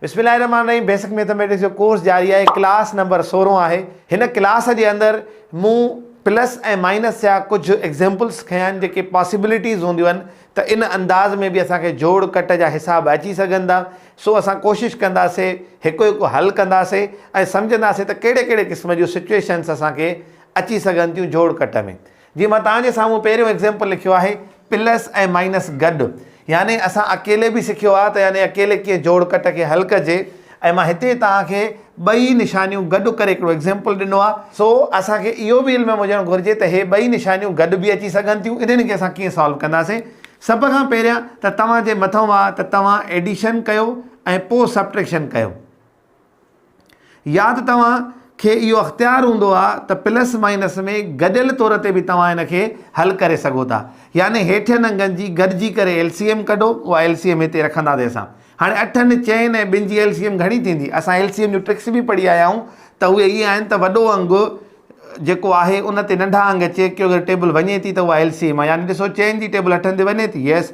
بسم الله الرحمن الرحيم بيسڪ ميٿميٽڪس جو ڪورس جاري آهي ڪلاس نمبر سورهن آهي هن ڪلاس جي اندر مون پلس ۽ مائنس جا ڪجهه ايگزامپلس کنيا آهن جيڪي پاسيبلٽيز هونديون آهن ته ان انداز ۾ به اسان کي جوڙ ڪٽ جا حساب اچي سگهن ٿا سو اسان ڪوشش ڪنداسي هڪ هڪ حل ڪنداسي ۽ سمجهنداسي ته ڪهڙي ڪهڙي قسم جون سچويشنس اسان کي اچي سگهن ٿيون جوڙ ڪٽ ۾ جيئن مان توهان جي سامهون پهريون ايگزيمپل لکيو آهي، پلس ۽ مائنس گڏ، يعني اسان اڪيلي به سکيو آهي ته يعني اڪيلي ڪيئن جوڙ ڪٽ کي حل ڪجي ۽ مان هتي توهان کي ٻئي نشانيون گڏ ڪري هڪڙو ايگزيمپل ڏنو آهي. سو اسان کي اهو به علم ۾ هجڻ گهرجي ته هي ٻئي نشانيون گڏ به اچي سگهن ٿيون، انهن کي اسان ڪيئن سالو ڪنداسين. سڀ کان پهريان ته توهان جي مٿئون آهي ته توهان ايڊيشن ڪيو ۽ پوء سبٽريڪشن ڪيو. يا ته توهان کي اهو اختيار هوندو آهي ته پلس مائنس ۾ گڏيل طور تي به توهان ان کي حل ڪري سگهو ٿا يعني هيٺين انگن جي گڏجي ڪري ايل سي ايم ڪڍو اها ايل سي ايم هتي رکنداسين اسان هاڻي اٺن چئن ۽ ٻن جي ايل سي ايم گهڻي ٿيندي اسان ايل سي ايم جون ٽرڪس به پڙهي آيا آهيون ته اهي اهي آهن ته وڏو انگ جيڪو آهي ان تي ننڍا انگ چيڪ ڪيو اگر ٽيبل وڃي ٿي ته اها ايل سي ايم آهي يعني ڏسو چئن جي ٽيبل اٺن تي وڃي ٿي يس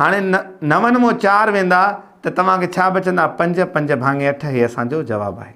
هاڻي نون مون چار ويندا ته توهان کي ڇا بچندا؟ پنج، پنج ڀاڱي اٺ هي اسان جو جواب آهي.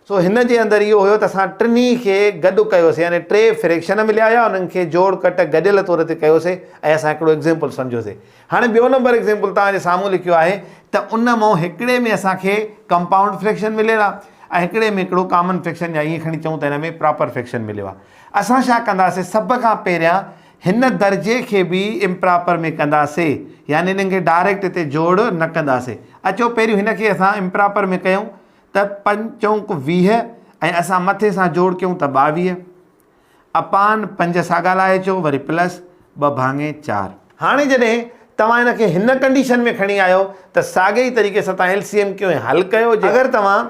سو هن جي اندر اهو هيو ته اسان ٽنهي کي گڏ ڪيوسي يعني ٽي فريڪشن مليا هيا انهن کي جوڙ ڪٽ گڏيل طور تي ڪيوسي ۽ اسان هڪڙو ايگزيمپل سمجهيوسي. هاڻي ٻيو نمبر ايگزيمپل توهان جي سامهون لکيو آهي ته ان مون هڪڙي ۾ اسان کي ڪمپائونڊ فريڪشن مليل آهي ۽ هڪڙي ۾ هڪڙو ڪامن فريڪشن يا ائين کڻي چئون ته هن ۾ پراپر فريڪشن مليو آهي. اسان ڇا ڪنداسي سڀ کان پهريان هن درجي کي به امپراپر ۾ ڪنداسي يعني انهن کي ڊائريڪٽ هتي جوڙ نه ڪنداسي اچو پهريون هن کي اسان امپراپر ۾ ڪيون ته پنج چونڪ ويهه ۽ اسان مٿي سان جوڙ ڪيون ته ٻاويهه اپان پنج ساڳا لائي اچو وري پلس ٻه ڀاڱي چار. هاڻي جڏهن توهان هن کي هن ڪنڊيشن ۾ کڻي آيو ته ساڳئي طريقي سان توهان ايل سي ايم ڪيون ۽ حل ڪيو جي اگر توهان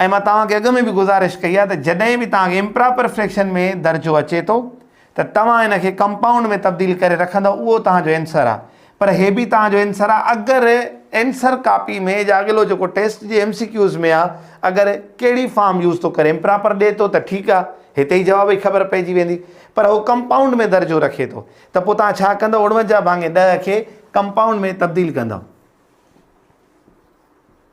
۽ مان توهان کي اڳ ۾ به گذارش ڪئي آهي ته جڏهن به توهان کي امپراپر فريڪشن ۾ درجو اچي ٿو ته توهان ان کي ڪمپائونڊ ۾ تبديل ڪري رکندؤ اهو توهان جو اينسر آهي پر هي به توهان جو اينسر آهي اگر اينسر ڪاپي ۾ جا اڳلو جيڪو ٽيسٽ جي ايم سي ڪيوز ۾ آهي اگر ڪهڙي فارم يوز ٿو ڪري امپراپر ڏي ٿو ته ٺيڪ آهي هتي ئي جواب جي خبر پئجي ويندي پر هو ڪمپائونڊ ۾ درجو رکي ٿو ته پوء توهان ڇا ڪندؤ اڻونجاهه ڀاڱي ڏهه کي ڪمپائونڊ ۾ تبديل ڪندؤ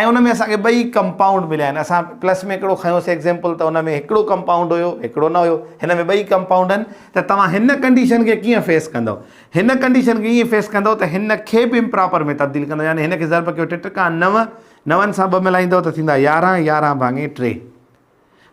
۽ ان ۾ اسان کي ٻئي ڪمپائونڊ مليا آهن اسان پلس ۾ هڪڙو کنيو سي ايگزيمپل ته ان ۾ هڪڙو ڪمپائونڊ هيو هڪڙو نه هيو هن ۾ ٻئي ڪمپائونڊ آهن ته توهان هن ڪنڊيشن کي ڪيئن فيس ڪندؤ هن ڪنڊيشن کي ائين فيس ڪندؤ ته هن کي به امپراپر ۾ تبديل ڪندؤ يعني هن کي ضرب ڪيو ٽي ٽڪا نو نون سان ٻه ملائيندؤ ته ٿيندا يارهن يارهن ڀاڱي ٽي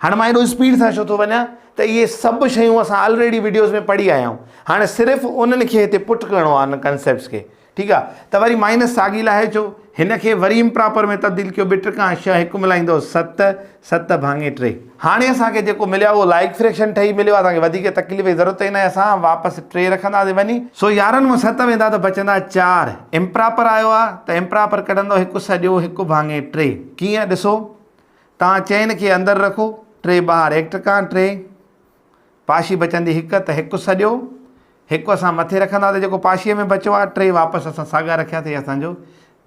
هاڻي مان ايڏو اسپيڊ سان ڇو ٿو وڃان ته اهي سڀ شيون اسان آلريڊي وڊيوز ۾ پڙهي آيا آهيون هاڻي صرف انهن کي هتي پٽ ڪرڻو آهي ان ڪنسيپٽس کي ٺيڪ آهي ته وري مائنس ساڳي لاهي ڇو هن کي وري امپراپر ۾ تبديل ڪيو ٻه ٽ کان شهه هڪ ملائيندو ست ست ڀاڱي ٽي هاڻي اسان کي جيڪو مليو اهو لائق فريڪشن ٺهي مليو آهي اسان کي وڌيڪ تڪليف جي ضرورت ئي ناهي اسان واپس ٽي رکنداسين وڃي سو يارهن مان ست ويندا ته بچندا چار امپراپر آيو آهي ته امپراپر ڪڍندو هڪ سڄو هڪ ڀاڱي ٽي ڪيئن ڏسو تان چئن کي اندر رکو، ٽي ٻاهر هڪ ٽڪان ٽي. پاشي بچندي هڪ ته هڪ سڏيو، هڪ اسان مٿي رکندا ته جيڪو پاشي ۾ بچو آهي ٽي واپس اسان ساڳا رکيا ته هي اسان جو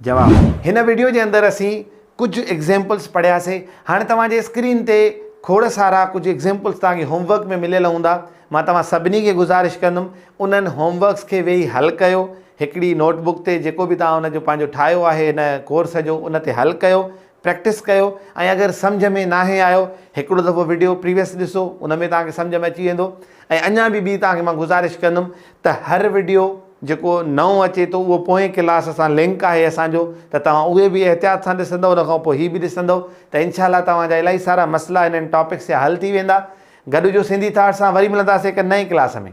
جواب آهي. هن وڊيو جي اندر اسين ڪجهه ايگزيمپلز پڙهيا سي. هاڻي توهان جي اسڪرين تي کوڙ سارا ڪجهه ايگزيمپلز توهان کي هوم ورڪ ۾ مليل هوندا. مان توهان سڀني کي گذارش ڪندم انهن هوم ورڪس کي ويهي حل ڪيو. هڪڙي نوٽ بڪ تي جيڪو به توهان ان جو پنهنجو ٺاهيو آهي هن ڪورس جو ان تي حل ڪيو. پريڪٽس ڪيو ۽ اگر سمجهه ۾ ناهي آيو هڪڙو دفعو وڊيو پريويس ڏسو ان ۾ توهان کي سمجهه ۾ اچي ويندو ۽ اڃان به ٻي توهان کي مان گذارش ڪندم ته هر وڊيو جيڪو نئون اچي ٿو اهو پوئين ڪلاس سان لنڪ آهي اسان جو ته توهان اهي به احتياط سان ڏسندؤ ان کان پوء هي به ڏسندؤ ته انشاء الله توهان جا الائي سارا مسئلا هنن ٽاپڪس جا حل ٿي ويندا گڏجو سنڌي ٿاٽ سان وري ملنداسين هڪ نئين ڪلاس ۾.